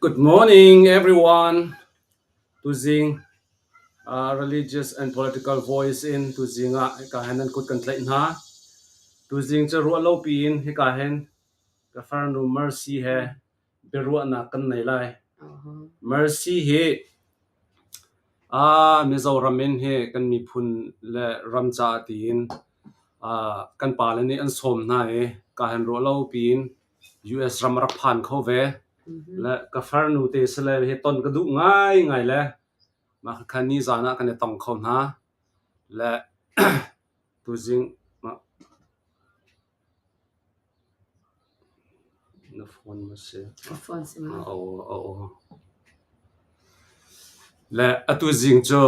Good morning everyone. Tuzing uh, religious and political voice in tuzing ah hika hen an kut kan tlaih hna. Tuzing cu ruah lo piin hika hen Governor Mercy he biaruahnak kan nei lai. Mercy hi aa Mizoram in hi kan miphun le ram caah tiin aa kan pa le nih an sawm hna i ka han ruah lo piin US ram a rak phan kho ve. Le ka farnu te si le hi ton ka duh ngaingai le mah kha khan ni zaan ah kan i tong kho hna. Le tuzing mah Na phone maw si? Le atu zing cu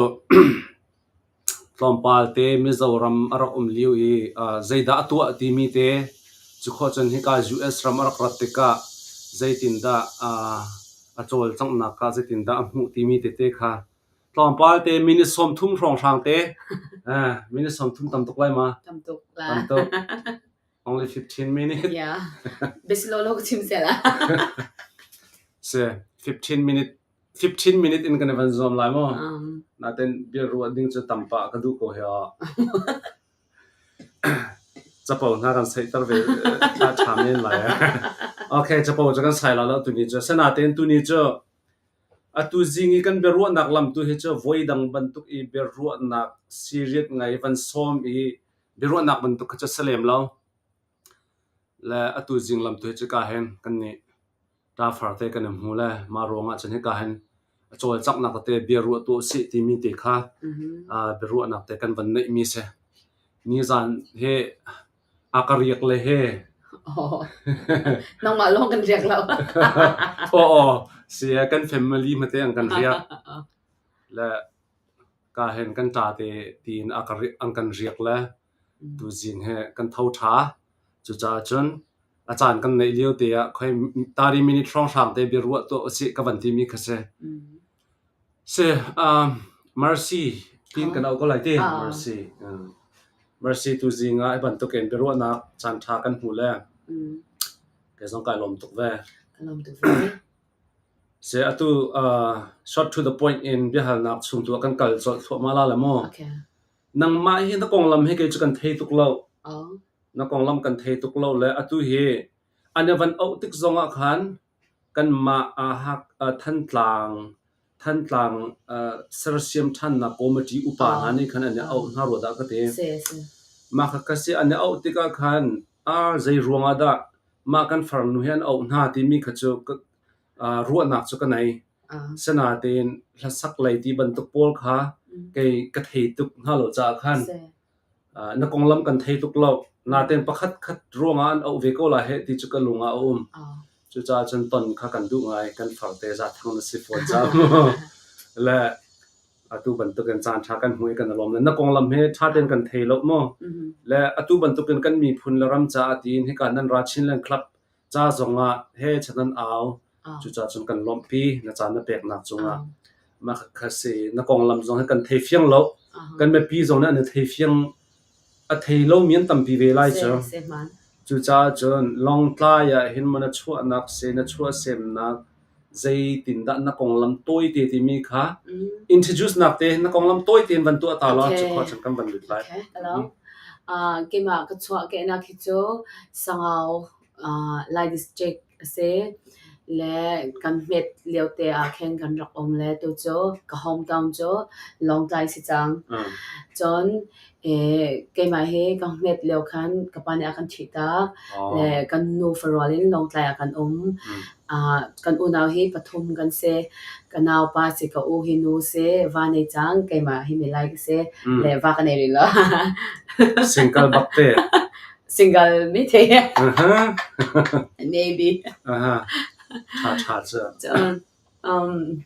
tlawmpal te Mizoram a rak um lio i zeidah a tuah timi te cukhua cun hika US ram a rak rat tikah zeitindah a cawlcanghnak kha zeitindah a hmuh timi tete kha Tlawmpal te minute sawmthum hrawnghrang te minute sawmthum tam tuk lai ma? Tam tuk la. Tam tuk. Only 15 minutes. Ya. Bislolo ko chim se la. Si 15 minute 15 minute in kan van zuam lai mo. Naten bil ruat ding cu tampa ka du ko hea. Capo hna kan sei tar ve ta cham nen lai. Okay, capoจะkan sai la la tu ni chu. Senaten tu ni chu Atu zing i kan biaruahnak lam tu hi cu voidang bantuk i biaruahnak serious ngai van sawm i biaruahnak bantuk kha cu a si lem lo. Le atu zing lam tu hi cu ka hin kan nih ṭafar te kan i hmu le mah ruangah cun hika hin a cawlcanghnak tete biaruah tu a si timi te kha aa biaruahnak te kan van neihmi a si. Nizan hi a ka riak le he. Nangmah lawng kan riak lo. Aw aw si e kan family hmate an kan riak. Le ka hen kan ta te tiin a ka an kan riak le tu zing he kan tho tha. Cucaah cun a caan kan neih lio te ah khoi 30 minute hrawng hrang te bia ruah to a si ka van ti mi kha si. Mercy tiin kan auh ko lai ti. Mercy tu zing ah hi bantuk in biaruahnak caanṭha kan hmu le kei zong kai lawm tuk ve. Seh atu short to the point in biahalnak chung tu ah kan kal colh thluahmah la le maw? Nangmah hi na konglam hi kei cu kan thei tuk lo. Na konglam kan thei tuk lo le atu hi an i van auh tik zong ah khan Kanmah Thantlang Thantlang sersiam ṭhannak kawmiṭi upa hna nih khan an i auh hna rua dah ka ti. Mah kha ka si. An i auh tikah khan ar zei ruangah dah mah kan farnu hi an auh hna timi kha cu ruahnak cu ka nei. Asinain hlasak lei ti bantuk pawl kha kei ka thei tuk hna lo caah khan Na konglam kan thei tuk lo. Naten pakhatkhat ruangah an auh ve ko lai heh ti cu ka lung ah a um. Cucaah cun ton kha kan duh ngai. Kan farte zathang na si fawn cang. Le atu bantukin caan ṭha kan hmu i kan i lawm le na konglam hi ṭha tein kan thei lo maw? Le atu bantukin kan miphun le ram caah tiin hika nan ra Chinland Club ca zongah he chan an au. Cucaah cun kan lawmhpi na ca na peknak cungah. Mah kha si na konglam zong hi kan thei fiang lo. Kan mipi zong nih an i thei fiang a thei lomi an tampi ve lai cu. Cucaah cun Lawngtlai ah hin mana chuahnak se na chuah semnak zeitindah na konglam tawite timi kha introduce nak te na konglam tawite in van tuah ta law cu khua kan van lut lai. Okay, talo. Uh, kema ka chua ke na khi chu sangau uh, lai district ase le kan met liau te a khen kan rak om le tu chu ka hometown chu long tai si chang. Chon keimah hi kan hmet lio khan ka pa nih a kan ṭhih tak. Le kan nufa rual in Lawngtlai ah kan um. kan unau hi pathum kan si. ka naupa si, ka u hi nu si, va nei cang, keimah hi mi lai ka si. le va ka nei rih lo. Single bak te. Single mi te. Maybe. Ṭha ṭha cu. Cun,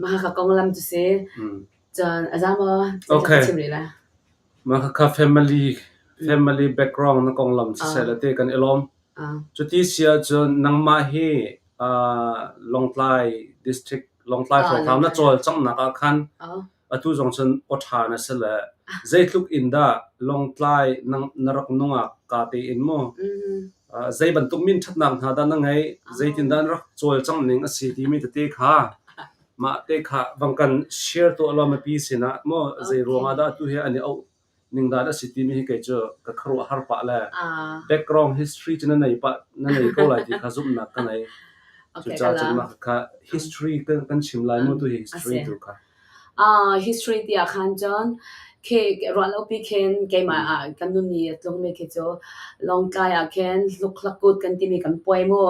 mahaka konglam tu si. Cun a za maw? Okay. Ka chim rih la. Mah khakha family family background na konglam siseh la te kan i lawm. Ah. Cuti si ahcun nangmah hi uh, Lawngtlai district Lawngtlai Ah, forum na Lawngtlai. cawlcanghnak ah khan Oh. atu zong cun awṭha na si le zeitluk in dah Lawngtlai nang, na rak nungak ka tein mu Mhm. uh, zei bantuk min ṭhatnak hna dah na ngei zeitin dah na rak cawlcang ning a si timi tete kha Mah te kha vang kan share tuah law mipi sinah maw zei ruangah dah tu hi an i auh ning dan a si timi hi kei cu ka kharuah har pah le background history cu na nei pah na nei ko lai ti kha zumhnak ka nei cu ca cun mah kha history kan chim lai mu tu hi history tu kha history tiah khan cun khi ruah lo pi khin keimah ah kan nuni a tlungmi khi cu Lawngtlai ah khin hlukhla kut kan timi kan puai mu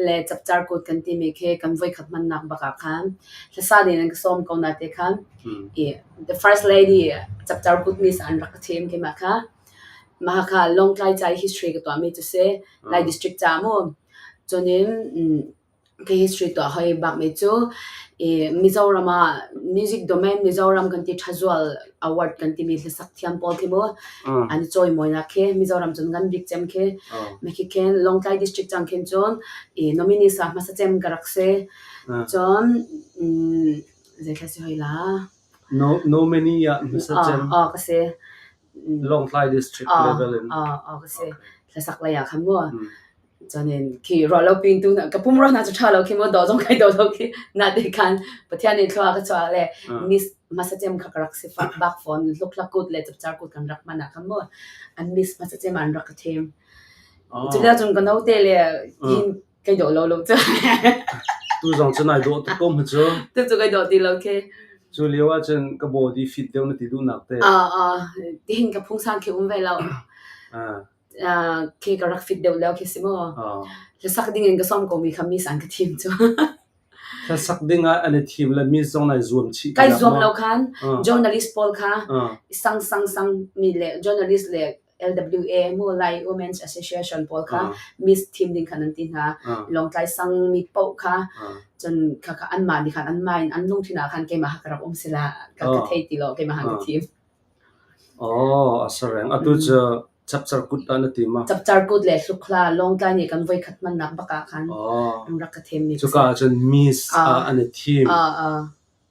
le chapchar kut kan timi khi kan voikhat hmannak bak ah khan hlasa din an ka sawm ko na te khan the first lady chapchar kut miss an rak ka thim keimah kha mahaka Lawngtlai chai history ka tuami cu si lai district cha mu cunin History tuah hoi bakmi cu Mizoram ah music domain Mizoram kan ti thazual award kan timi hlasak thiam pawl khi mu an i cawimawinak khi Mizoram cun kan bik cem khi mekhi khin Lawngtlai district cang khin cun nominees ah hmasa cem ka rak si cun zeithla si hoi la? Nominee ah hmasa cem. Ka si. Lawngtlai district level in. Ah ah ka si. Thlasak lei ah khan mu. Chuanin khi ro lo ping tu ka pum ro na chu tha lo khi mo do jong kai do lo khi na te khan pathian in thua ka chwa le miss masa chem kha rak si fak bak phone luk la kut le chap char kut kan rak mana khan mo an miss masa chem an rak ka them. Chukda chung ka no te le in Kai dawh lo lo cu. Tu zong cu nai dawh tuk ko mu cu. Tu cu kai dawh ti lo khi. Cu lio ah cun ka body fit deuh na ti duhnak te. Ah ah tihin ka phungsang khi um ve lo. Ah. Ah khi ka rak fit deuh lo khi si mu. Ah. Hla sak ding in ka som ko mi kha mi sang ka thim cu. Hla sak ding ah an i thim le mi zong nai zuam chih. Kai zuam lo khan. Journalist pawl kha. Sang sang sang mi le journalist le LWA maw Lai Women's Association pawl kha Miss thim ding khan an ti hna. Lawngtlai sang mi paoh kha cun khakha anmah nih khan an main an lungthin ah khan keimah hak rak um sila ka ka thei ti lo keimah hak ka thim. Oh, a sareng. Atu cu chapchar kut an ti ma. Chapchar kut le hlukla Lawngtlai nih kan voi khat man nak baka khan an rak ka thim ni. Cuka cun Miss an thi. Ah ah.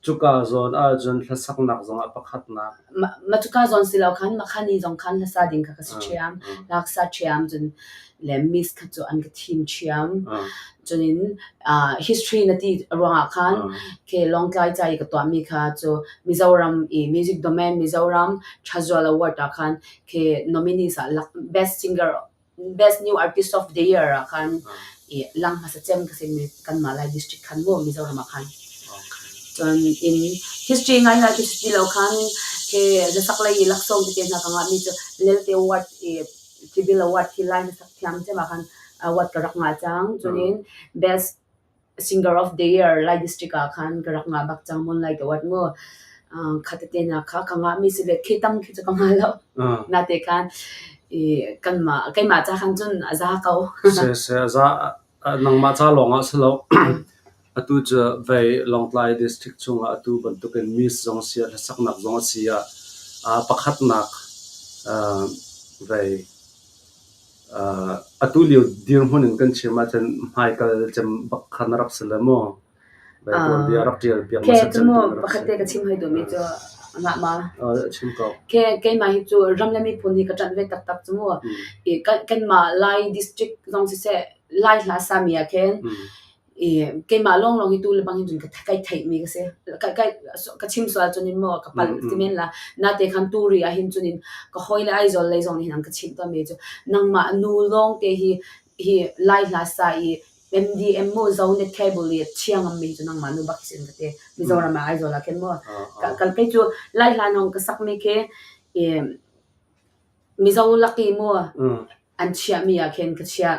Cuka zawn ahcun hlasaknak zongah pakhatnak mah cuka zawn si lo khan makhani zong khan hlasa ding kha ka si ṭhiam. Laksa ṭhiam cun le miss kha cu an ka thim ṭhiam. Cunin ah history na ti ruangah khan khi Lawngtlai ca i ka tuahmi kha cu Mizoram i music domain Mizoram Casual Award ah khan khi nominees ah best singer Best New Artist of the Year ah khan i lang hmasa cem ka simi kanmah Lai district khan mu Mizoram ah khan cun in history ngai lai history lo khan ke zasak lei i laksawng te hna ka ngahmi cu lelte award i civil award hi lai hnasak thiam cem ah khan award ka rak ngai cang cunin best Singer of the Year Lai District ah khan ka rak ngah bak cang mun lai ka wat mu. Uh, khat te na kha ka ngah mi si le khi tam khi chu ka ngah lo. Na te khan i kan ma kai ma cha khan cun a za ko. Se se za nang ma cha lawng ah si lo. Atu cu vei Lawngtlai District chung ah atu bantuk in Miss zong sia la sak nak zong sia a pakhat nak uh, vei Atu lio dirhmun in kan chim ahcun hmaikal cem bak kha na rak si le maw? Vai tuanbia rak ṭial piak hmasat cem tu na rak si. Pakhat te ka chim hoi dumi cu ngah ma. Chim ko. Ke keimah hi cu ram le miphun hi ka ṭanh ve taktak cu mu. I kan mah Lai district zong si se Lai hla sami ah khin i keimah lawnglawng hi tu le bang cun kai theihmi ka si. Kai kai ka chim sual cun in maw ka palh ti men la. Nate khan tu ri ahhin cun in ka hawi le Aizawl lei zong nih an ka chimh tawnmi cu nangmah nu lawngte hi hi lai hla sa i MDM mu zo net cable i chiang am mi cu nangmah nu bak sin ka te Mizoram ah Aizawl ah ken maw ka kai cu lai hla nong ka sak mi khi Mizo laki maw an chiahmi ah khin ka chiah.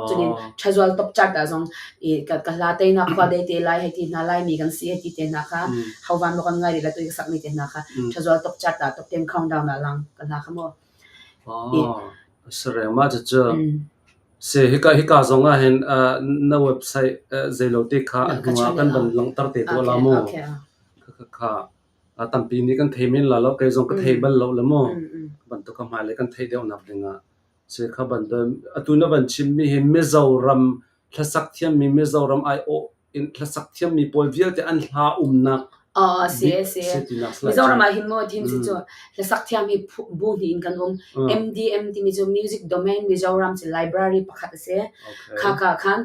Cunin thazual top chart ah zong i ka ka hla teinak khua dei te lai hei ti hna lai mi kan si hei ti te hna kha hau van maw kan ngai rih la tu i ka sak mi te hna kha thazual top chart ah top ten countdown ah lang ka hla kha maw Oh sareng ma cucu se hika hika zong ah hin na website zeilote kha a hnu ah kan van langtar te to la mu ka ka A tampi nih kan thei men la lo. Kei zong ka thei bal lo le maw bantuk a hmailei kan theih deuh nak dingah si kha bantuan. Atu na van chimmi hi Mizo ram hlasak thiammi Mizo ram aiawh in hlasak thiammi pawl vialte an hla umnak Oh, si si. Mizoram ah hin mo tin si cu hlasak thiam hi bu ni in kan um. MDM timi cu Music Domain Mizoram ci library pakhat a si. Kha ka khan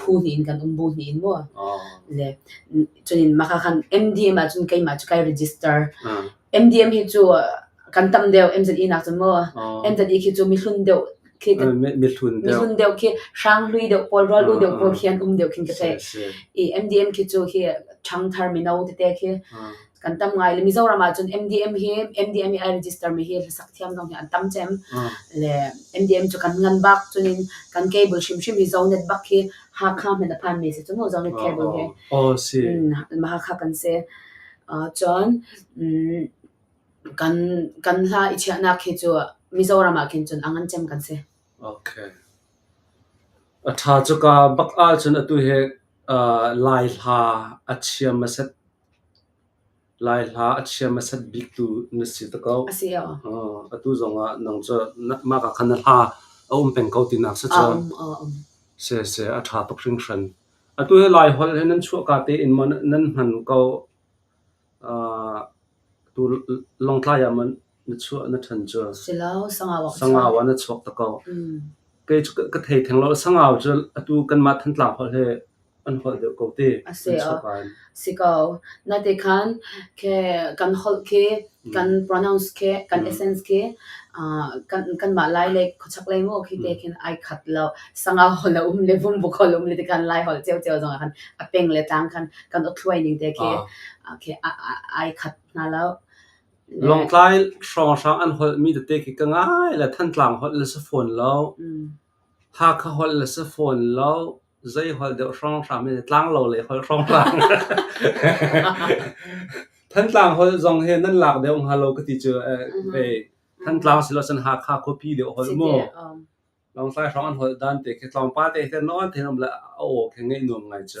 phu hnih in kan um bu hnih in mu le cunin mah kha khan MDM ahcun keimah cu kai register MDM hi cu kan tam deuh MZE nak cu mu MZE khi cu mihlun deuh khi mihlun deuh khi hrang hlui deuh pawl ro lu deuh pawl khian um deuh khin ka thei i MDM khi cu hi thang thar mino te te khi kan tam ngai le Mizoram ah cun MDM hi MDM i a register mi hi hlasak thiam zong hi an tam cem le MDM cu kan ngan bak cun in kan cable hrimhrim hi zone net bak hi Hakha men a phan mi si cu mu zone net cable hi oh si Hakha kan se cun kan kan hla i chiahnak hi cu Mizoram ah khin cun angan cem kan se okay a tha cu ka bak a cun atu he lai hla a chiam a set Lai hla a chia hmasat biktu na si te ko. Atu zongah nang cu mah ah khan na hla a um peng ko tinak si cu. A um, a um. Sese a tha tuk hringhran. Atu hi Lai holh hi nan chuahka tein maw nan hman ko? Tu Lawngtlai ah maw Na chuah na ṭhan cu sangau ah na chuak ta ko. Kei cu ka thei theng lo. Sangau cu atu kanmah Thantlang holh he an holh deuh ko te. A si ko. Natikhan kan holh khi kan pronounce khi kan essence khi kanmah Lai le khuachak lei maw khi te khin ai khat lo. Sangau holh a um le vumbuk holh um le tikhan Lai holh ceu ceu zong ah khan a peng le tlang khan kan awtluai ning te khi ai khat hna lo. Lawngtlai hrawnghrang an holhmi tete khi ka ngai le Thantlang holh le si fawn lo, Hakha holh le si fawn lo, zei holh deuh hrawnghrang men tlanglo lei holh hrawnghrang. Thantlang holh zong hi nan lak deuh hnga lo ka ti cu eh, hei Thantlang si lo san Hakha khuapi deuh holh mu. Lawngtlai hrawng an holh dan te khi tlawmpal te khi nawn thenum le a aw khi ngaih nuam ngai cu.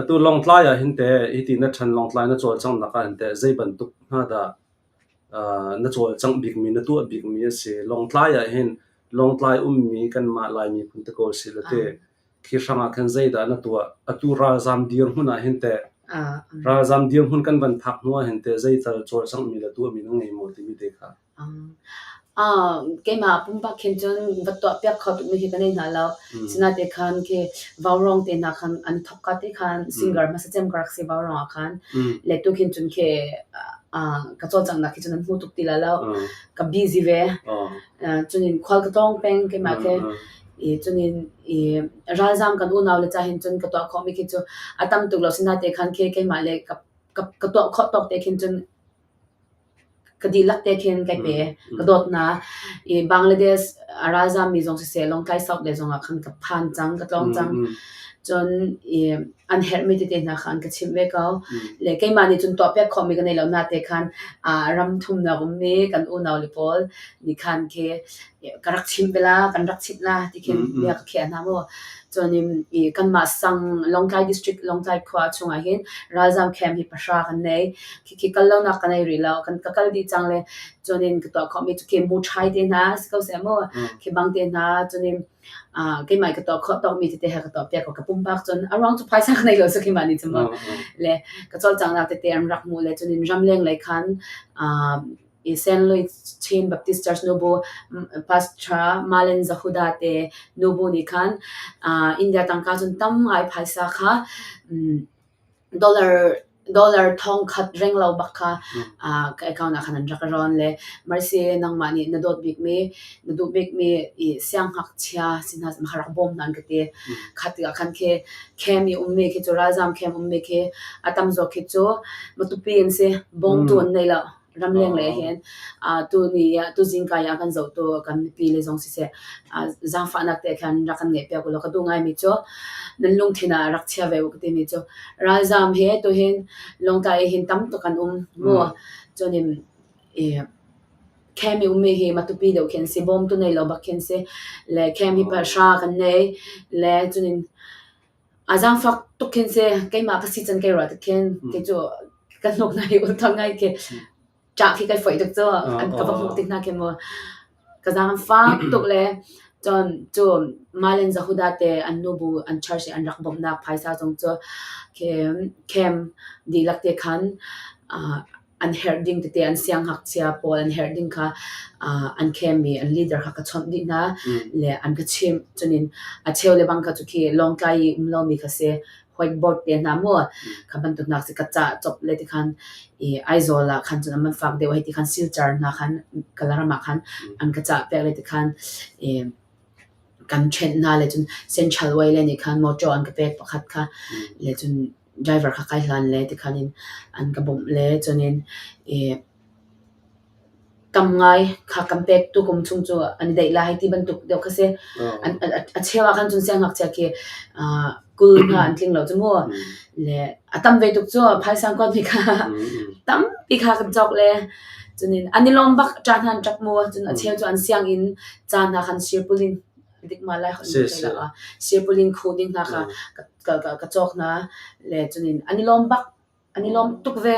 Atu Lawngtlai ah hin teh hiti na ṭhen Lawngtlai na cawlcanghnak ah hin teh zeibantuk hna dah na cawlcangh bikmi, na tuah bikmi a si? Lawngtlai ah hin Lawngtlai ummi kanmah Lai miphun te ko si law teh khi hrangah khan zeidah na tuah? Atu ralzaam dirhmun ah hin teh ralzaam dirhmun kan van phak hnu ah hin teh zei tal cawlcanghmi le tuahmi na ngei maw timi te kha? Keimah pumpak khin cun va tuahpiak kho tuk mi khi ka nei hna lo. Sinaite khan khi Vaurong te hna khan an thawk ka te khan singer hmasa cem ka rak si Vaurong ah khan. Le tu khin cun khi ka cawlcanghnak khi cun an hmu tuk ti la lo. Ka busy ve. Cunin khual ka tlawng peng keimah khi. I cunin i ralzam kan unau le ca hin cun ka tuah khawh mi khi cu a tam tuk lo. Sinaite khan khi keimah le ka tuah khawh tawk te khin cun ka dihlak te khin kai pe. Ka dawtnak i Bangladesh a ralzaam mi zong siseh, Lawngtlai South le zongah khan ka phan cang, ka tlawm cang. Cun i an herhmi tete hna kha an ka chimh ve ko. Le keimah nih cun tuahpiak khawhmi ka nei lo na te khan aa ram thumnak ummi kan unau le pawl nih khan khi ka rak chim bela kan rak chit la ti khin bia ka khiah hna maw chuanin i kanmah sang Lawngtlai district Lawngtlai khua chungah hin ralzam camp hi pahra kan nei khi khi kal lonak kan ei rih lo kan ka kal di chang le chuanin ka tuah khawmi chu khi mu thai te hna si ko se maw khi bang te hna chuanin keimah ka to kho to mi te ha ka to pe ko ka pum bak chun around to phaisa kan nei lo sakhi mani chuma le ka chol chang na te te an rak mu le chunin ram leng le khan i St. Louis Chin Baptist Church nubu pastor Malen Zahuda te nubu nih khan uh, India tangka cun tam ngai phaisa kha um, dollar dollar thong khat reng lo bak kha uh, ka account ah khan an rak ron le marse nangma nih na dot bik mi na du bik mi i siang hak chia sinha ma kharak bom nan ka te khati ka khan ke kem i um mi ke chu razam kem um mi ke atam zo ke chu matupi in se bong tun nei la ramleng le hin uh, tuni ah tuzing kai ah kan zo tu kan pi le zong si se uh, zangfahnak te khan rak kan nge pe ko lo ka du ngai mi chu nan lung thina rak chia ve ka ti mi chu ralzam he tu hin long ta hin tam to kan um mo chunim e kemi umi hi matupi deu khen si bom tu nei lo bak khen si le kemi pa sha kan nei le chunin a zaangfak tuk khin seh keimah ka si can kei rual tuk khin kei cu ka hnuk hna hi ultha ngai khi ṭah khi kai foih tuk cu an ka va hmuh ti hna khi mu ka zaangfak tuk le cun cu Malen Zahuda te an nu bu an church i an rak bawmhnak phaisa zong cu khem dihlak te khan an herh ding tete an sianghngakchia pawl an herh ding kha uh, an kemi an leader kha ka chawnh dih hna mm. le an ka chim chunin a cheu le bang ka chu khi longtlai i um lo mi kha se hoik board te hna mu mm. ka ban tu nak se ka cha chop le ti khan i aizawl la khan chun man fak deuh ti khan silchar na khan kalarama khan mm. an ka cha pek le ti khan e kan trend na le chun central way le ni khan motor an ka pek pakhat kha le chun driver kha kai hlan le tikhan in an ka bawmh le cun in i tam ngai kha kan pek tu kum chung cu an i daih lai ti bantuk deuh kha si a cheu ah khan cun siangngakchia khi kul hna an tling lo cu mu le a tam ve tuk cu phaisang kuat mi kha tampi kha kan cawk le cun in an i lawm bak ṭa hnan ṭak mu cun a cheu cu an sianginn ca hna khan sir pulin dikma lai hon nih theih lo. Siapulin khu ding hna kha ka cawk hna le cunin an i lawm bak an i lawm tuk ve.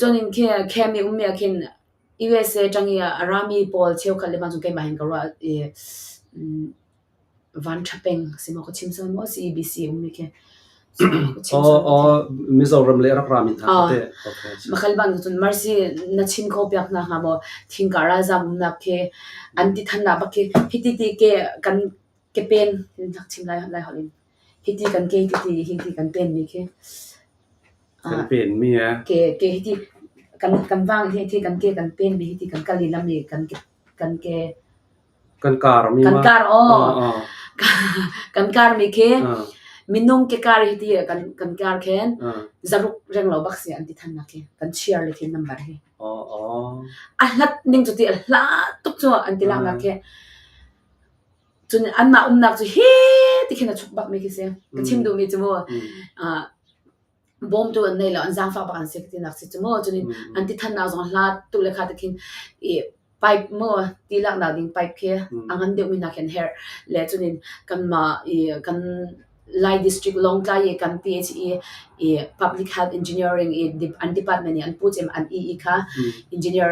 Cunin khi kem i ummi khin USA tang i a rami pawl cheukhat le ma cun keimah hin ka ruah i van tha peng si maw ka chim sawn maw si BBC ummi khi. Mizoram le rak ram in hna kha teh. Makalban ko cun marsi na chin ko piak na hnga maw thingka ralzam umnak khi an ti than na bak khi hiti ti ke kan ke pen nak chim lai lai holin hiti kan ke hiti hiti kan pen mi khi kan pen mi ke ke hiti kan kan wang hi hiti kan ke kan pen mi hiti kan kali lam mi kan kan ke Kan kar mi Kan ma. kar aw. Ah, ah, kan kar mi khi ah, minung ke kar hi ti kan kan kar khen ah. zaruk reng lo bak si an ti than na khi kan cheer le thin number hi Oh, oh. a hlat ning cu ti a hla tuk cu an ti lang na khi cun an ma um nak cu hi ti khin a chuk bak mi khi se ka chim du mi chu Mm. ah bawm tu an nei lo an zaangfak bak an si tinak si cu maw cun an ti thannak zong hla tu le kha te khin i pipe maw ti lak na ding pipe khi a ngan deuh mi nak hin her le chunin kan ma i kan Lai district Longtlai i kan ti chi i i public health engineering i an department i an pu chem an i i kha engineer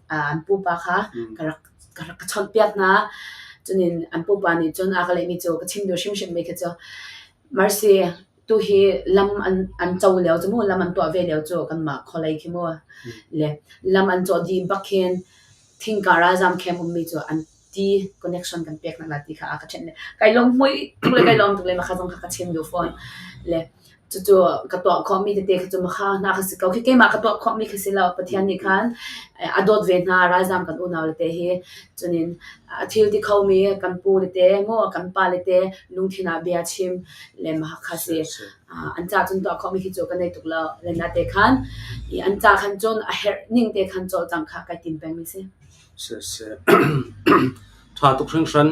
an pu pa kha ka rak ka rak chot piat na chunin an pu pa nih cun a ka lei mi chu ka chim du hrim hrim me kha chu marsi tuhi lam an an co lio cu mu lam an tuah ve lio cu kanmah khualei khi mu le lam an cawh dih bak hin thingkara zam camp ummi cu an ti connection kan pek nak la ti kha a ka chen le kai lom hmui tuk le kai lom tuk le ma kha zong kha ka chim du phone le cu cu ka tuah khom mi tete khi cu ma kha na ka si ko khi keimah ka tuah khom mi khi si lo pathian nih khan a dawt ve hna ralzam kan unau le te hi chunin a thil ti kho mi kan pu le te mo kan pa le te lungthin ah bia chim le Mahakha si. Uh, an ca cun tuah khawhmi khi cu ka nei tuk lo. Lena te khan i an ca khan cun a herh ning te khan col cang kha kai tin peng mi si. Si si. Tha tuk hring hran.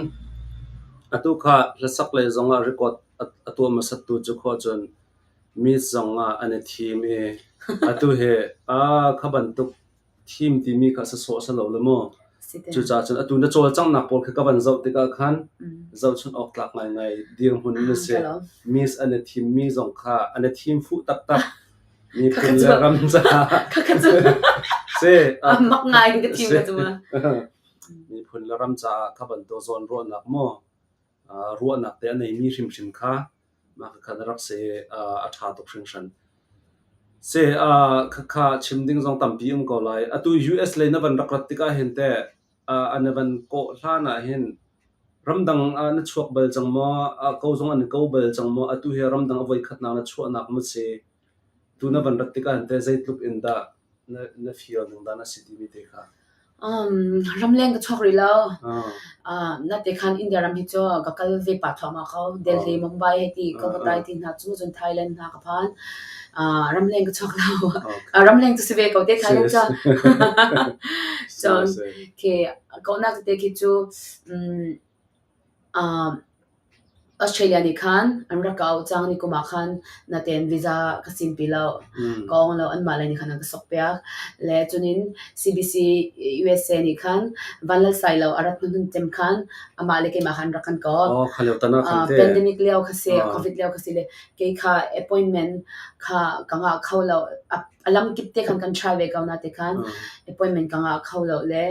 Atu kha hlasak le zong ah record a tua masat tu cu kho cun mi zong ah an i thim i atu he a khaban tuk thim timi kha sasawh a si lo le maw? Cucaah cun atu na cawlcanghnak pawl kha ka van zoh tikah khan zohchunh awk tlak ngaingai dirhmun na si. Miss an i thimmi zong kha an i thim fuh taktak miphun le ram caah si. Mak ngai ka thim ka cuma. Miphun le ram caah ka van daw zawn ruahnak maw ruahnak te a neimi hrimhrim kha Mah khakha na rak si a ṭha tuk hringhran. Si khakha chim ding zong tampi um ko lai. Atu US lei na van rak rat tik ahhin teh an i van kawh hlan ahhin ramdang ah na chuak bal cang maw? Ko zong an i ko bal cang maw? Atu hi ramdang a voikhatnak na chuahnak maw a si? Tu na van rat tik ahhin teh zeitluk in dah Ramleng ka chuak rih lo. Natekan India ram hi cu ka kal ve pah thuam ah ko. Delhi, Mumbai hei ti, Kolkata hei ti hna cu, cun Thailand hna ka phan. Ramleng ka chuak lo. Ramleng cu si ve ko te, Thailand cu. So, okay. Kau nak te khi cu, Australia nih khan an rak ka auh cang. Nikum ah khan natein visa ka sim pi lo. Ka awng lo. Anmah lei nih khan an ka sokpiak. Le cunin CBC USA nih khan van lal sai lo a rat hnuhnun tem khan amah le keimah khan rak kan kawp. Oh, kha lio tan ah khan teh. Pandemic lio ka si, Covid lio ka si le kei kha appointment kha ka ngah kho lo. A lam kip te khan kan try ve ko na te khan appointment ka ngah kho lo le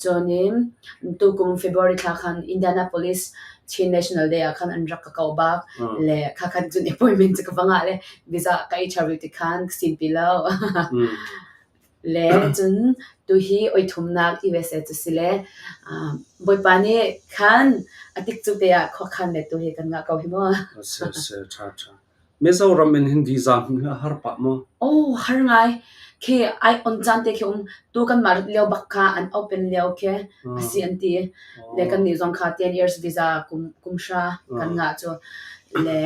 Cun in tukum February thla khan Indianapolis Chin National Day ah khan an rak ka kau bak Mm. le kha khan cun appointment cu ka va ngah le visa ka ei ṭha rih ti khan ka sin pi lo Mm. le cun tu hi oi thumnak ti ve se cu si le um, Bawipa nih khan a tik cu te ah khua khan le tu hi kan ngah ko hi maw. Oh, si, si, ṭha, ṭha. Mizoram in hin visa hmun hi a har pah maw? Oh, har ngai. Khi ai on caan te khi um tu kan mah lio bak kha an open lio khi asi an ti. Le kan nih zong kha 10 years visa kum kum sha kan ngah cu. Le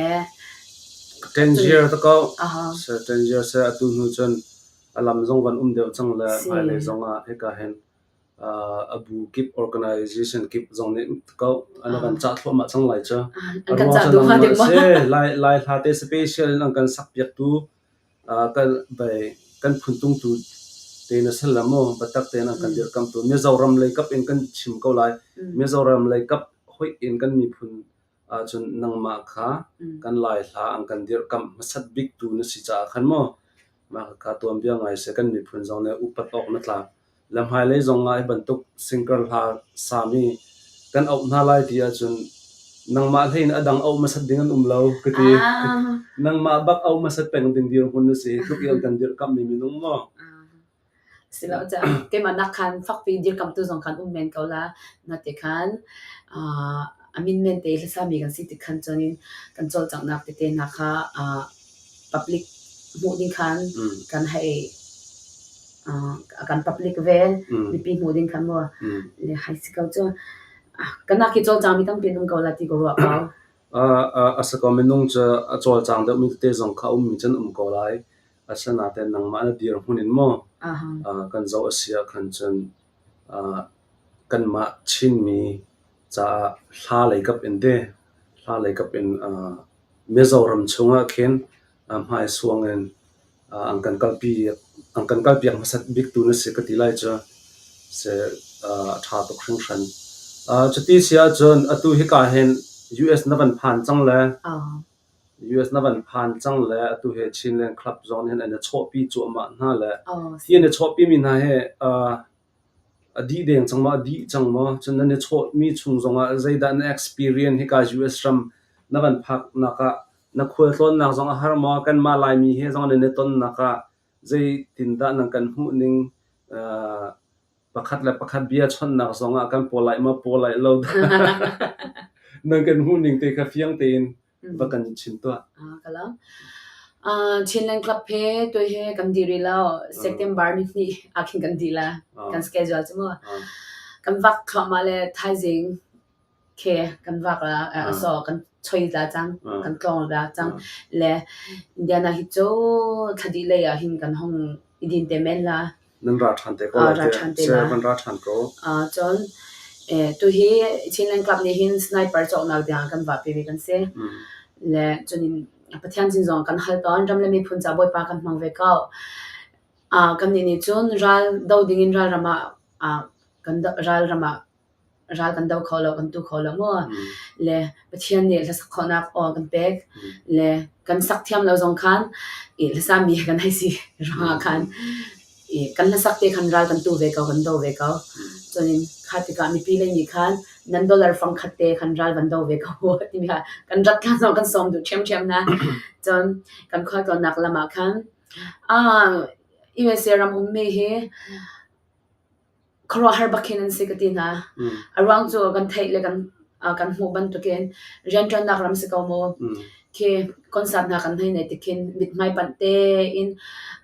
10 year ta ko. Aha. Se 10 year se atu hnu cun a lam zong kan um deuh cang le hmailei zong ah hika hin a bu kip organisation kip zong nih an kan cah thluahmah cang lai cu. A ruang cu nangmah a si. Lai hla te special in an kan sakpiaktu kan phuntungtu te na si la maw biatak te nan kan dirkamtu Mizoram lei kap in kan chim ko lai. Mizoram lei kap hoih in kan miphun ahcun nangmah kha kan laihla an kan dirkamh hmasat biktu na si caah khan maw mah kha tuanbia ngai seh kan miphun zong nih upat awk na tlak le hmailei zong ah hi bantuk sinker hla sami kan auh hna lai ti ahcun nangmah hlei in a dang auh hmasat ding an um lo ka ti nangmah bak auh hmasat peng ding dirhmun na si tluk in kan dirkamhmi minung maw Siloah keimah nak khan fakpi dirkamhtu zong khan um men ko la. Na ti khan uh, a min men te hlasa mi kan si ti khan cun in kan cawlcanghnak tete hna kha uh, public hmuh ding khan mm. kan hei uh, kan public vel mm. mipi hmuh ding khan mo mm. le hai si ko cu kana ki cawlcang mi tampi um ko la ti ko ro ko a a sa ko minung cha a cawlcang de mi te zong kha um mi chen um ko lai Asinain nangmah na dirhmun in maw kan zoh a si ahkhan cun kanmah Chinmi caah hla leikap in te hla leikap in Mizoram chungah khin hmaisuang in an kan kalpiak hmasat bik tu na si ka ti lai cu si a ṭha tuk hringhran. Cuti si ahcun atu hika hin US na van phan cang le US na van phan cang le atu he Chinland club zong nih hin an i chawhpi cuahmah hna le hi an i chawhpimi hna hi a dih deng cang maw a dih cang maw cun nan i chawhmi chung zongah zeidah na experience hika US ram na van phaknak ah na khualtlawnnak zong a har maw kanmah Laimi he zong nan i tonnak ah Zeitindah nan kan hmuh ning? Uh, pakhat le pakhat bia chawnhnak zongah kan paw lai ma paw lai lo nan kan hmuh ning te kha fiang tein va kan chin tuah. Ah, kalam. Uh, Chinland Club he tu he kan diri lo September ni ni akin kan di la kan schedule chimo kan vak khama le thaizing khi kan vak la a saw kan choi la cang kan tlawng la cang le Indiana hi cu thladih lei ah hin kan hong i din te men la nan ra ṭhan te ko ra ṭhan te la van ra ṭhan ko a cun tu hi Chinland Club nih hin sniper cawknak tiang kan vah pe mi kan si le cun Pathian sin zong kan hal tawn ram le miphun ca bawipa kan hmang ve ko kan nih nih cun ral do ding in ral ram ah kan ral ram ah ral kan do kho lo, kan tu kho lo maw? Le Pathian nih hlasak khawhnak aw kan pek. Le kan sak thiam lo zong khan i hlasami kan hei si ruangah khan i kan hlasak te khan ral kan tu ve ko, kan do ve ko. Cun kha tikah mipi le nih khan nan dollar fangkhat te khan ral van do ve ko timi kha kan rat hlan zong kan sawm duh ṭhiamṭhiam na. Cun kan khualtlawnnak lam ah khan ah USA ram ummi hi khuaruahhar bak khin an si ka ti hna. A ruang cu kan theih le kan kan hmuh bantukin rianṭuannak ram si ko maw. Khi concert hna kan hei neih tikhin mithmai panh tein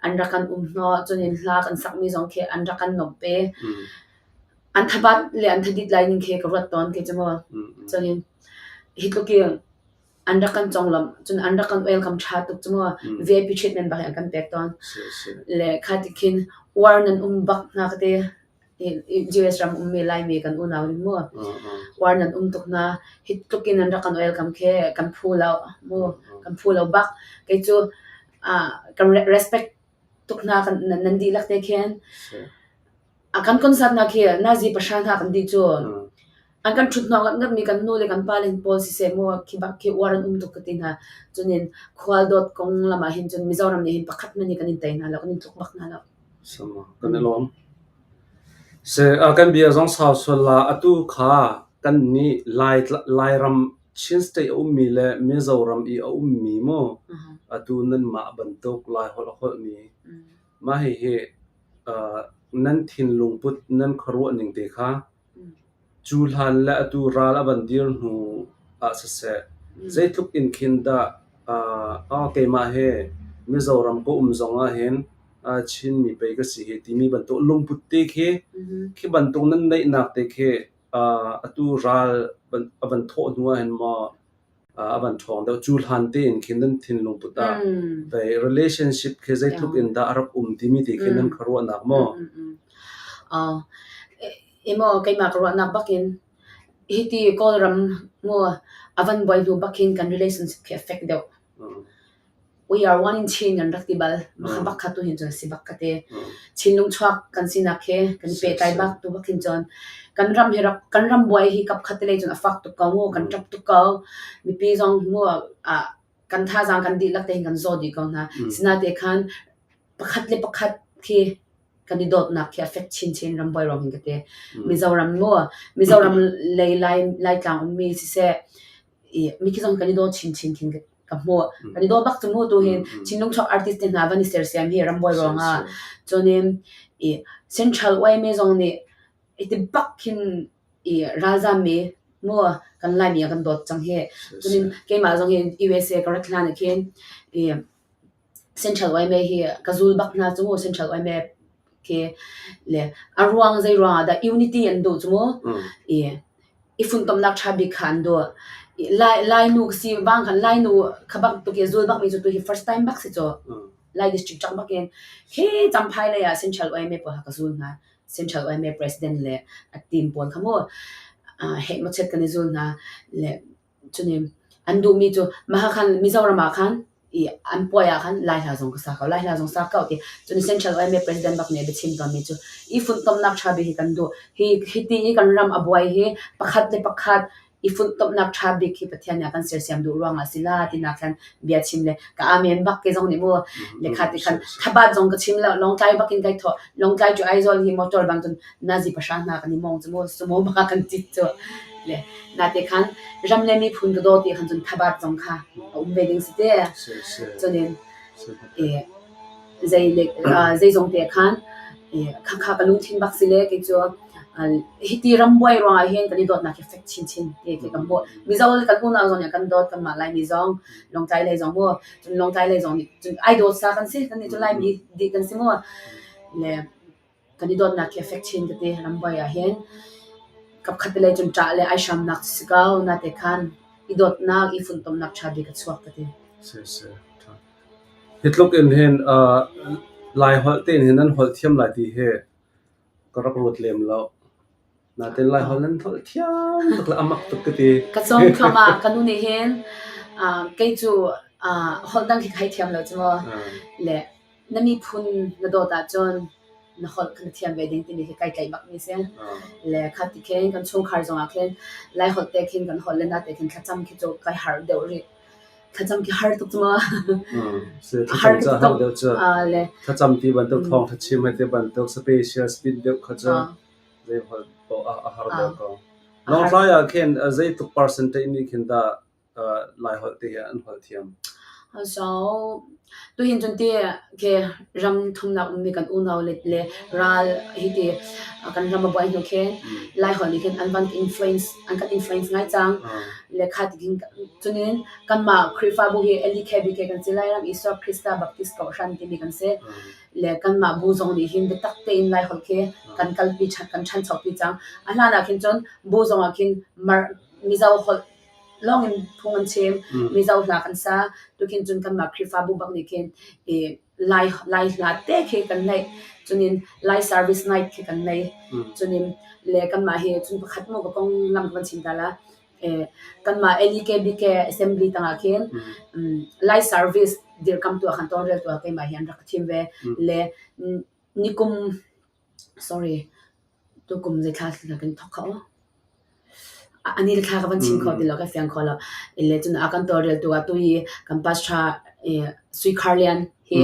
an rak kan um hnawh. Cunin hla kan sakmi zong khi an rak kan lawmh ve. An thabat le an thadit lai ning khi ka ruat tawn khi cu maw. Cunin hi tluk in an rak kan conglamh cun an rak kan welcome ṭha tuk cu maw VIP treatment bak in an kan pek tawn le kha ti khin war nan um bak hna ka te US ram ummi Laimi kan unau nih mu war nan um tuk na hi tluk in an rak kan welcome khe kan phu lo mu kan phu lo bak kei cu kan respect tuk hna kan nan dihlak te khen A kan concert nak hi nazi pahra hna kan dih cun an kan ṭhut hnawh ngatngat mi kan nu le kan pa le hin pawl siseh maw khi bak khi uar an um tuk ka ti hna cunin khualdawt kong lam ah hin cun Mizoram nih hin pakhat man hi kan in tei hna lo kan in tluk bak hna lo sama kan i lawm se a kan bia zong sau sual la atu kha kan ni lai lairam Chin state a um mi le Mizoram i a um mi mo atu nan ma bantuk lai hol hol mi Mah hihi nan thinlung put nan khuaruah ning te kha cu hlan le atu ral a van dir hnu ah siseh, zeitluk in khin dah keimah he Mizoram ka um zong ahhin Chinmi pei ka si hi timi bantuk lungput te khi khi bantuk nan neihnak te khi atu ral a van thawh hnu ahhin maw a van ṭhawng deuh. Cu hlan tein khin nan thinlung put ah vei relationship khi zeitluk in dah a rak um timi ti khin nan kha ruahnak maw? Imo keimah ka ruahnak bakin hiti Kawlram mu a van buai hnu bakin kan relationship khi a fek deuh. We are one in Chin kan rak ti bal. Makha bak kha tu hin cun si bak ka ti. Chinlung chuak kan sinak he kan pehtlai bak tu bak hin cun kan ram he rak kan ram buai hi kap khat lei cun a fak tuk ko mu kan tap tuk ko mipi zong mu ah kan thazang kan dihlak te hin kan zaw di ko hna sina te khan pakhat le pakhat khi kan i dawtnak khi affect chin chin ram buai rom hin ka te mizoram mu mizoram lei lai lai tlang ummi siseh i mi ki zong kan i daw chin chin hin ka hmuh kan i dawt bak cu mu tu hin Chinlung chok artist te hna van i sersiam hi rambuai ruangah cun in i central way me zong nih iti bak hin i ralzam mi mu kan lai mi kan dawt cang hi cun in keimah zong hin USA curriculum khin i Central yma hi ka zul bak hna cu mu Central yma khi le a ruang zei ruang ah dah unity an duh cu mu i i funtomnak ṭha bik kha an duh. Lai Lainu ka si vang khan Lainu kha bak tuk i zul bak mi cu tuhi first time bak si caw Lai district cak bak in khi Champhai lei ah Central yma pawl ha ka zul hna Central yma president le a team pawl kha mu uh, hei machit kan i zul hna le Cunim an duhmi cu mahakhan Mizoram ah khan i an puai ah khan Lai hla zong ka sa ko, Lai hla zong sa ko ti. Cun Central YMA President bak nih a biachim tawnmi cu i funtomnak tha bik hi kan duh. Hi hi ti i kan ram a buai hi pakhat le pakhat i funtomnak tha bik hi Pathian nih a kan sersiam duh ruangah a si la tinak khan bia chim le ka amen bak ke zong nih mu lekha ti khan thabat zong ka chim lo Lawngtlai bakin kai thaw Lawngtlai cu Aizawl hi motor bang cun nazi pahra hna kan i mawng cu maw cu maw bak ah kan cit cu le nate khan ram le miphun ka daw ti khan cun thabat zong kha a um ve ding si te cunin e zei le zei zong te khan khakha ka lungthin bak si le kei cu hi ti ram buai ruang ah hin kan i dawtnak hi fek chin chin te ke kan mo mizo kan unau zong nih kan dawt kan mah lai mi zong longtai lei zong mo cun longtai lei zong nih cun ai dawt sa kan si kan ni cun lai mi di kan si mo le kan i dawtnak hi a fek chin ka ti. Ramvaih ah hin kapkhat vile cun ṭah le ai hramnak si ko. Nate khan i dawtnak, i funtomnak ṭha bik a chuak ka ti. Si, si. ṭha. Hi tluk in hin uh, Lai holh te in hin nan holh thiam lai ti hi ka rak ruat lem lo. Natin Laiholh nan tholh thiam tuk le a mak tuk ka ti. Ka cawng thluahmah. Ka nu nih hin uh, kei cu uh, holh dang khi kai thiam lo cu maw. Le na miphun na dawt ahcun na holh kan thiam ve ding timi hi kai tlaih bak mi si. Le khat ti khin kan chungkhar zongah khin Laiholh te khin kan holh le na te khin thlacam khi cu kai har deuh rih. Thlacam khi har tuk cu maw. Har tuk. Le thlacam ti bantuk thawng thlachim hai te bantuk special spin deuh kha cu Nautlai ah khin zeitluk percentage nih khin dah Lai holh te hi an holh thiam? So tuhin cun ti ke ram thumnak ummi kan unau le ral hiti kan ram a buai hnu khin Lai holh nih khin an van influence an kan influence ngai cang. Le kha tikin cunin kanmah Khrihfabu hi Eli KBK kan si Lairam Isua Krista Baptist Kohhran timi kan si. le kanmah bu zong nih hin biatak tein Lai holh khi kan kalpi kan ṭhanchopi cang. A hlan ah khin cun bu zong ah khin Mizo holh lawngin phung an chim, Mizo hla kan sa. Tukhin cun kanmah Khrihfabu bak nih khin Lai hla te khi kan neih. Cunin Lai service night khi kan nei. Cunin le kanmah hi cun pakhat maw pakong lam kan chim ta la. kanmah LEKBK assembly tangah khin light service dirkamtu ah khan tonrel tu ah keimah hi an rak ka thim ve le nikum sorry tukum zeithla lakin thok kha ani le thla ka van chim kho ti lo ka fiang kho lo le cun a kan torrel tu ah tu i kan pastor sui kharlian hi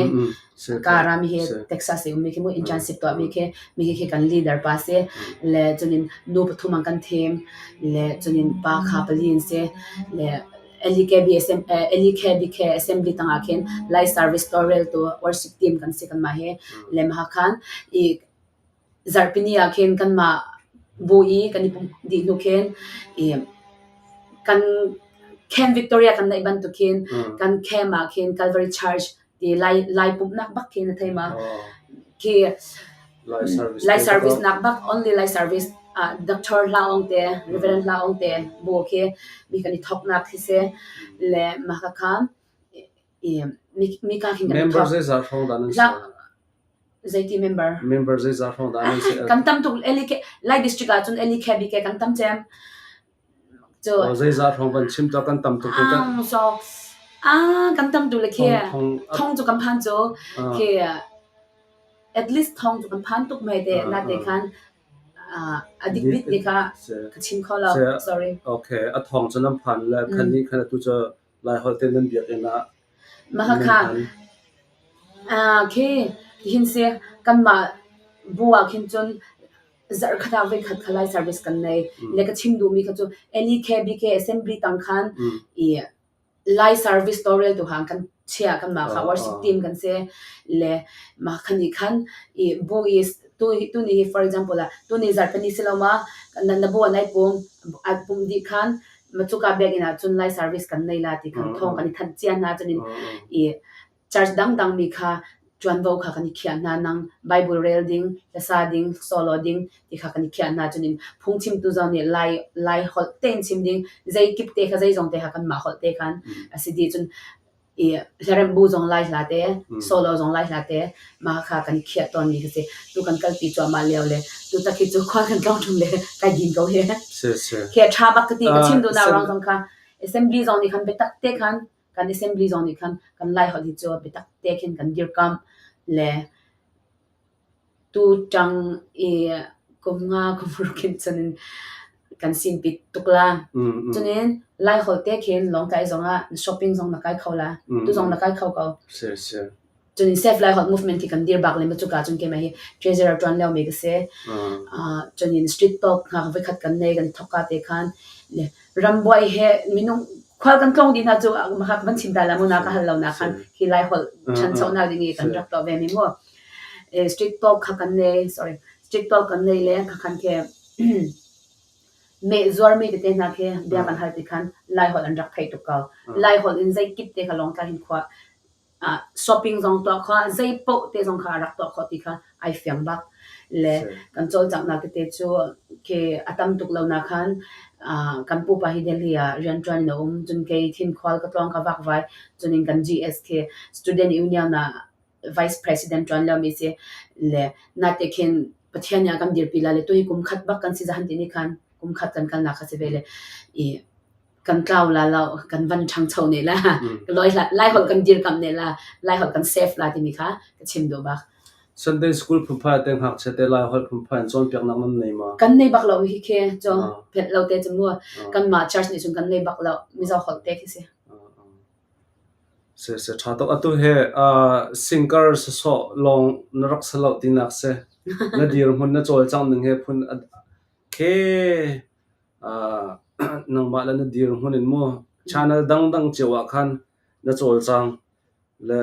karam hi texas i ummi khi mu internship tuahmi khi mi khi kan leader pa si le chunin nu pathum an kan thim le chunin pa kha pali in si le LEKBK assembly tangah khin Light Service Laurel tu worship team kan si kan ma hi le ma khan i zarhpini ah khin kanmah bu i kan i pumh dih hnu khin i kan Camp Victoria kan neih bantuk khin kan camp ah khin Calvary Church ti lai lai pumhnak bak khin a thei ma khi lai service nak bak only lai service ah Dr. Hla Ong te Reverend Hla Ong te bu khi mi kan i thok nak khi se le ma ka khan mi kaa hin kan member zeizah hrawng dah nan si zeiti member member zeizah hrawng dah nan si kan tam tuk eli ke lai district ah cun eli khe bi ke kan tam cem so zeizah hrawng ban chim to kan tam tuk kan so ah kan tam tuk le ke thong chu kan phan chu ke at least thong chu kan phan tuk mai te na te khan addicted ne ka ka chim kho lo sorry okay a thong chu nan phan le khan ni khan tu cho Laiholh te nan biakinn ah na hman. Khi tihin si kanmah bu ah khin cun zarhkhat ah voikhat kha Lai service kan nei. Le ka chim duhmi kha cu NEK BK Assembly tang khan i Lai service tawlreltu hang kan chia kanmah kha worship team kan si. Le mah khan nih khan i bu i tuni hi for example ah tuni zarhpini si lo ma na bu ah nai pum ai pum dih khan Macuka biakinn ah cun Lai service kan nei la ti khan thawng kan i thanh cia hna cun in i church dangdang mi kha ṭuanvo kha kan i khiah hna nang Bible rel ding hlasa ding solo ding ti kha kan i khiah hna cun in phungchimtu zong nih lai lai holh tein chim ding zeikip te kha zeizong te kha kan mah holh te khan a si di cun i hlaremhbu zong lai hla te, solo zong lai hla te, mah kha kan khiah tawn mi ka si. Tu kan kal pi cuahmah lio le tu tak hi cu khua kan tlong ṭhum le kai din ko hi. Si si. Khi a ṭha bak ka ti ka chim duh na rang zong kha assembly zong nih khan biatak te khan kan assembly zong nih khan kan lai holh hi cu biatak te khin kan dir kam le Tuṭang i kum nga kum ruk in cunin kan sinpit tuk la. Cunin Laiholh te khin Lawngtlai zongah shopping zong na kai kho la. Tu zong na kai kho ko. Sure sure. Cunin Safe Laiholh Movement hi kan dir bak le maw cuka cun keimah hi treasurer ṭuan liomi ka si. Uh, cunin street talk ngak voikhat kan nei kan thokka te khan le rambuai he minung khual kan tlong dih hna cu makak van chim ta la mu na ka hal lo na khan hi Laiholh ṭhanchonak ding i kan rak tuah ve mi mu. street pau kha kan nei sorry street pau kan nei le ka khan ke me zuar mi te na ke bia kan hal ti khan lai hol an rak thai tu ka lai hol in zai kip te ka long tla hin khwa shopping zong to kho zai po te zong kha rak to kho ti kha ai fiang bak le kan chol chak na ke te chu ke atam tuk lo na khan kan pu pa hi delhi a rian tuan na um jun ke thin khwal ka tong ka wak vai junin kan gst student union na vice president tuan liomi si le nate khin pathian nih a kan dirpi la le tu hi kum khat bak kan si zahan ti ni khan kum khat kan kalnak kha si ve le i kan tlau la lo kan van ṭhangcho ne la loi lai holh kan dir kam ne la lai holh kan save la timi kha ka chim do bak Sunday school phupa te ngak che te lai holh phupa in chon piak nam nan nei ma kan nei bak lo hi ke cho pet lo te chemu kan ma church ni chung kan nei bak lo mi zo holh te khi si Sihmanhsehlaw ṭha tuk. Atu hi singer sawsawh lawng na rak si lo tinak a si. Na dirhmun na cawlcangh ning hi phun a khi nangmah le na dirhmun in mu channel dangdang cio ah khan na cawlcang le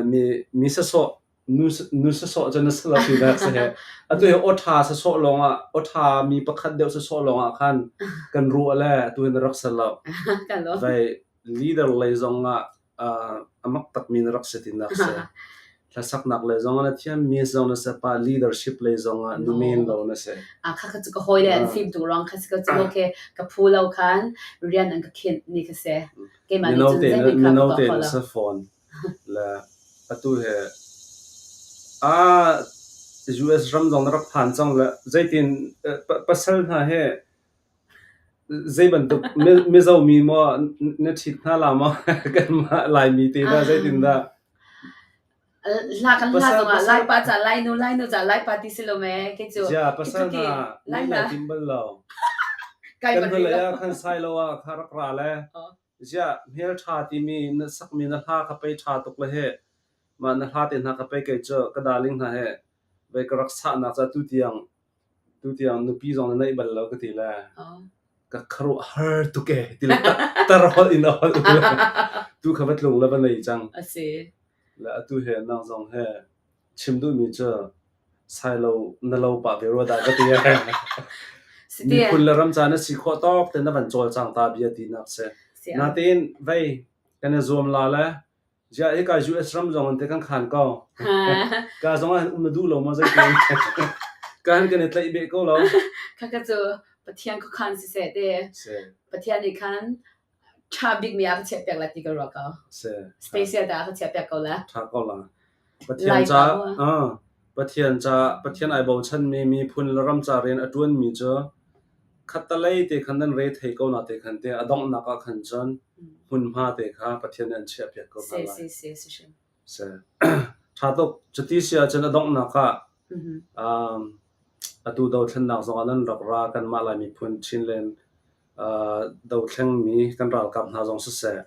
mi sawsawh nu sawsawh cu na si lo tinak a si hi. Atu hi aw ṭha sawsawh lawng ah aw ṭha mi pakhat deuh sawsawh lawng ah khan kan ruah le atu hi na rak si lo. Vai leader lei zong ah a mak takmi na rak si tinak si. Hlasaknak lei zong na thiam mi zong na se pa leadership lei zong ah nu men lo na se. A kha ka ka hoi le an film tu rong kha ka chu ke ka phu lo khan rian an ka khin ni ka se. Ke ma ni chun ze ni ka ko ko la. phone la atu he a US ram dong na rak phan chang la zeitin pasal hna he Zeibantuk mizo mi maw na ṭhit hna la maw kanmah Laimi te dah zeitindah? Hla kan hla zongah Laipa ca Lainu Lainu ca Laipa ti si lo mee kei cu. Jia pasal hna ni le tim bal lo. Kan hnulei ah khan Sailo ah kha rak ra le Ziah hmelṭha timi na sakmi na hla kha pei ṭha tuk le hi mah na hla te hna kha pei kei cu ka darling hna hi vei ka rak sahnak cu tu tiang tu tiang nupi zong na neih bal lo ka ti le ka kharuah har tuk e ti le tar holh in a holh u le tu kha va tlung le va nei cang a si le atu he nang zong he Chim duhmi cu Sailo na lo pa ve rua dah ka ti. Miphun le ram caan na si khawh tawk te na van cawlcang ta bia ti nak si. Natin vei kan i zuam la le jia hi ka US ram zong an te kan khan ko. Ka zong an um na duh lo ma zei tin. Ka han kan i tlai be ko lo. Kaka cu Pathian ko khan si se te. Pathian ni khan ṭha bikmi ah ka chiah piak lai ti ka ruah ko. Si. Special dah ka chiah piak ko la. Ṭha ko la. Pathian ca ah Pathian ca Pathian ai bochanmi miphun le ram ca rian a ṭuanmi cu khatalei te khan nan re thei ko na te khan te a donghnak ah khan cun hmunhma te kha Pathian an chiah piak ko hna lai. Si si si si. Si. Ṭha tuk cuti sia cun a donghnak ah a tu dothlennak zong ah nan rak ra kanmah lai miphun Chinland dothlengmi kan ralkap hna zong siseh,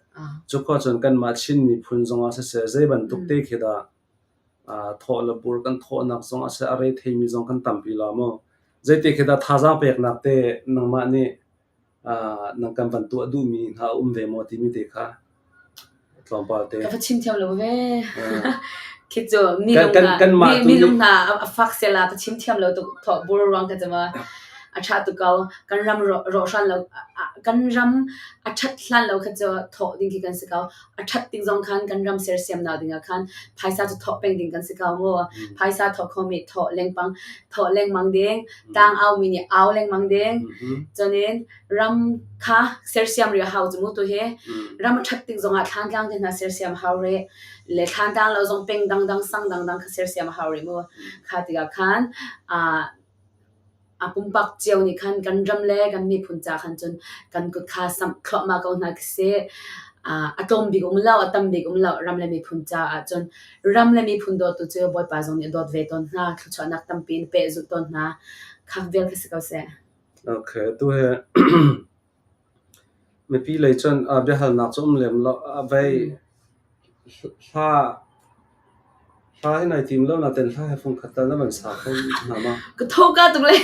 cu khua cun kanmah Chin miphun zongah siseh zeibantuk te khi dah thawh le bur kan thawhnak zongah siseh a re theimi zong kan tampi lo maw? Zeiti khi dah thazaang peknak te nangmah nih nan kan van tuah duhmi hna a um ve maw timi te kha Ka va chim thiam lo ve. Khi cu minung hna a fak sia la ka chim thiam lo tuk. Thawh bur ruang ka cama. A tha tuk ko. Kan ram rawhran lo, kan ram a that hlan lo kha cu thawh ding khi kan si ko. A that ding zong khan kan ram sersiam nau ding ah khan phaisa cu thawh peng ding kan si ko mu. Phaisa thawh kho mi thawh lengpang, thawh lengmang ding, tang au mi nih au lengmang ding. Cun in ram kha sersiam ri a hau cu mu tu hi ram a that tik zongah thlan tlang te hna sersiam hau re le thlan tlang lo zong peng dang dang sang dang dang kha sersiam hau re mu kha tikah khan a a pumpak cio nih khan kan ram le kan miphun ca khan cun kan kut kha sam khlohma ko hna khi a tlawm bik um lo a tam bik um lo ram le miphun ca ah cun ram le miphun dawtu cu bawipa zong nih dawt ve tawn hna thluchuahnak tampi in pe zulh tawn hna khak vel ka si ko seh Tu hi mipi lei cun biahalnak cu a um lem lo. Vei hla hla hi nai tim lo nain hla he fung khat tal na van sa kho hna ma? Ka tho ka tuk le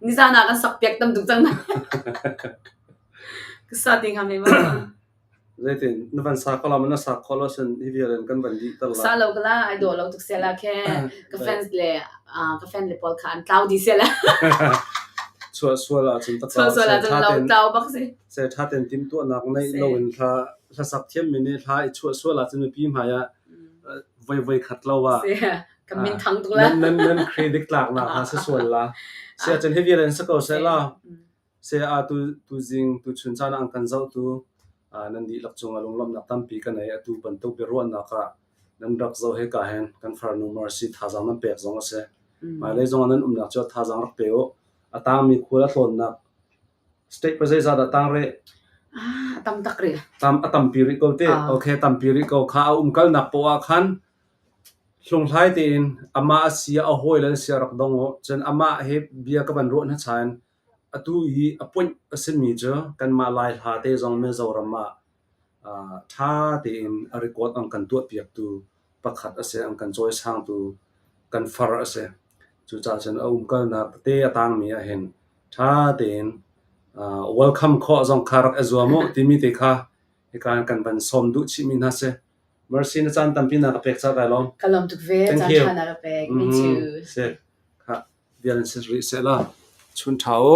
nizan ah kan sak piak tam tuk cang na. Ka sa ti ngam he ma. Na van sa kho lo maw? Na sa kho lo ahcun hi vial in kan van dihter lai. Sa lo ka la, ai daw lo tuk sia la khe. Ka fans le ka fan le pawl kha an tlau di sia la. Sual sual ahcun ta Sual sual ahcun lau tlau bak si. Se tha ten tim tuah nak nei lo in thla thla sak thiam min ni thla i sual sual ahcun mi pi hmai ah voi voi khat lo wa. Ka min thang tuk la. Nan nan nan credit tlak na ha sa sual la. Se ahcun hi vial in sa ko se la. Saya atu tuzing tuchun caan ah an kan zohtu nan dihlak cung ah lunglawmhnak tampi kan ei atu bantuk biaruahnak ah nan rak zoh he ka hen kan farnu mar si thazaang nan pek zong a si hmailei zong ah nan umnak cu thazaang rak pe u a tangmi khual a tlawnnak state pa zeizat ah tang rih a tam tak rih tam a tampi rih ko te okay tampi rih ko kha a umkalnak poah khan hlunghlai tein ama a sia a hawi le sia rak dong u cun ama he bia ka van ruah hna chain Atu i a puanh a simi cu kanmah Laihla te zong Mizoram ah ṭha tein a record an kan tuahpiaktu pakhat a si, an kan cawisangtu kan far a si. Cucaah cun a umkalnak tete a tangmi ahhin ṭha tein welcome khawh zong kha rak i zuam u timi te kha hika in kan van sawm duh chihmi hna a si. Mercy na caan tampi na ka pek ca kai lawm. Ka lam tuk ve Thank caan you. tha na ka pek. Me Mhm. too. Sick. Kha, bia nan si rih seh la. Chun tha u.